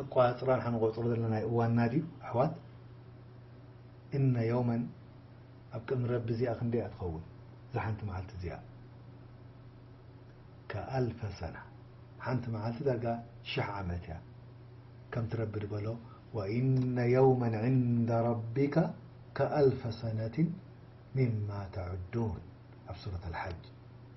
ኣቆፃፅራ ንሕና ንቆፅሮ ዘለናዩ እዋንና ድዩ ኣሕዋት እነ የውመን ኣብ ቅድሚ ረቢ እዚኣ ክንደይ እያ ትኸውን እዛ ሓንቲ መዓልቲ እዚኣ ከኣልፈ ሰና ሓንቲ መዓልቲ ዳርጋ ሽሕ ዓመት እያ ከምቲ ረቢ ድበሎ ወኢነ የውመን ዕንደ ረቢካ ከኣልፈ ሰነትን ሚማ ተዕዱን ኣብ ሱረት ኣልሓጅ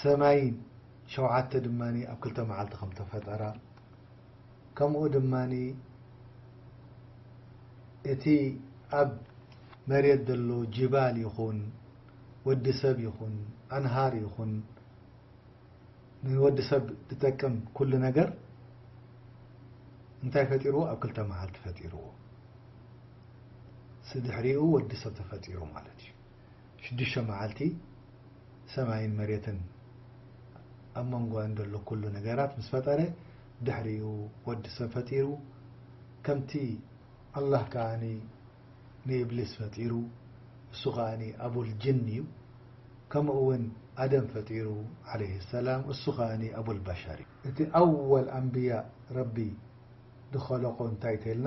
ሰማይ ሸውዓተ ድማ ኣብ ክልተ መዓልቲ ከም እተፈጠራ፣ ከምኡ ድማ እቲ ኣብ መሬት ዘሎ ጂባል ይኹን ወዲ ሰብ ይኹን ኣንሃር ይኹን ንወዲ ሰብ ዝጠቅም ኩሉ ነገር እንታይ ፈጢርዎ? ኣብ ክልተ መዓልቲ ፈጢርዎ። ስድሕሪኡ ወዲ ሰብ ተፈጢሩ ማለት እዩ። ሽዱሽተ መዓልቲ ሰማይን መሬትን ኣብ መንጎኣን ዘሎ ኩሉ ነገራት ምስ ፈጠረ ድሕሪኡ ወዲ ሰብ ፈጢሩ ከምቲ ኣላህ ከኣ ንኢብሊስ ፈጢሩ እሱ ከኣ ኣቡል ጅን እዩ ከምኡ ውን ኣደም ፈጢሩ ዓለይሂ ሰላም እሱ ከኣ ኣቡል በሸር እዩ። እቲ ኣወል ኣንብያ ረቢ ድኸለቆ እንታይ ተልና?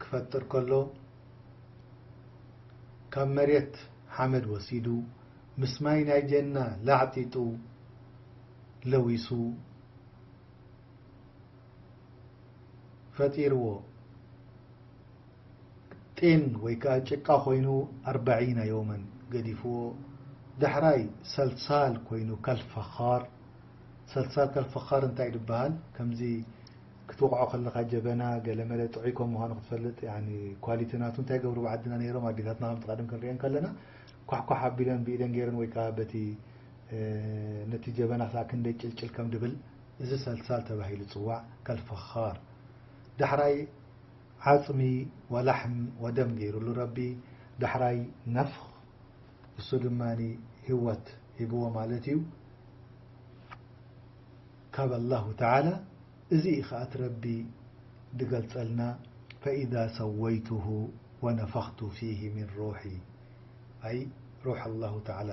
ክፈጥር ከሎ ካብ መሬት ሓመድ ወሲዱ ምስ ማይ ናይ ጀና ላዕጢጡ ለዊሱ ፈጢርዎ ጢን ወይ ከዓ ጭቃ ኮይኑ ኣርባዒና ዮመን ገዲፍዎ ዳሕራይ ሰልሳል ኮይኑ ከልፈኻር ሰልሳል ከልፈኻር እንታይ ድበሃል ከምዚ ክትወቕዖ ከለኻ ጀበና ገለመለ ጥዑይ ከም ምዃኑ ክትፈልጥ ያኒ ኳሊቲ ናቱ እንታይ ይገብሩ ብዓድና ነይሮም ኣዴታትና ከምቲ ቀደም ክንሪኤን ከለና ኳሕኳሕ ኣቢለን ብኢደን ገይረን ወይ ከኣ በቲ ነቲ ጀበና ክሳዕ ክንደይ ጭልጭል ከም ድብል እዚ ሰልሳል ተባሂሉ ይጽዋዕ ከልፈኻር ዳሕራይ ዓጽሚ ወላሕም ወደም ገይሩሉ ረቢ ዳሕራይ ነፍኽ እሱ ድማ ህይወት ሂብዎ ማለት እዩ። ካብ ኣላሁ ተዓላ እዚ ኢዩ ከኣ እቲ ረቢ ድገልጸልና ፈኢዛ ሰወይቱሁ ወነፈኽቱ ፊሂ ሚን ሩሒ ኣይ ሩሕ ኣላሁ ተዓላ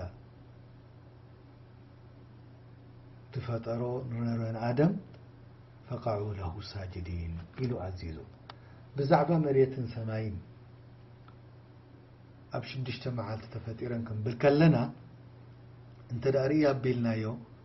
ድፈጠሮ ንረን ኣደም ፈቀዑ ለሁ ሳጅዲን ኢሉ ኣዚዙ ብዛዕባ መሬትን ሰማይን ኣብ ሽዱሽተ መዓልቲ ተፈጢረን ክንብል ከለና እንተ ርእይ ኣቢልናዮ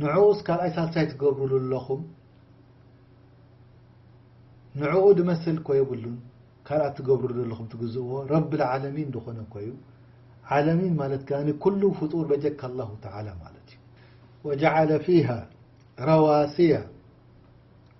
ንዑኡስ ካልኣይ ሳልሳይ ትገብሩሉ ኣለኹም ንዑኡ ድመስል እኮ የብሉን ካልኣት ትገብሩሉ ኣለኹም ትግዝእዎ ረቢ ልዓለሚን ድኾነ እኮዩ ዓለሚን ማለት ከኣ ኩሉ ፍጡር በጀካ ኣላሁ ተዓላ ማለት እዩ ወጀዓለ ፊሃ ረዋሲያ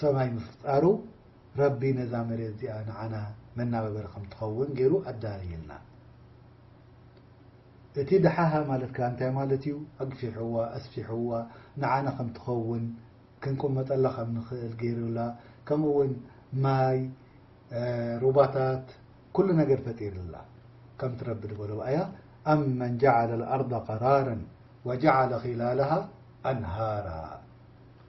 ሰማይ ምፍጣሩ ረቢ ነዛ መሬት እዚኣ ንዓና መናበበሪ ከም ትኸውን ገይሩ ኣዳልይልና። እቲ ደሓሃ ማለት ከኣ እንታይ ማለት እዩ? ኣግፊሕዋ፣ ኣስፊሕዋ፣ ንዓና ከም ትኸውን ክንቅመጠላ ከም ንኽእል ገይሩላ፣ ከምኡ እውን ማይ፣ ሩባታት፣ ኩሉ ነገር ፈጢርላ። ከምቲ ረቢ ዝበሎ ብኣያ ኣመን ጀዓለ ኣልኣርዳ ቀራረን ወጀዓለ ኺላለሃ ኣንሃራ።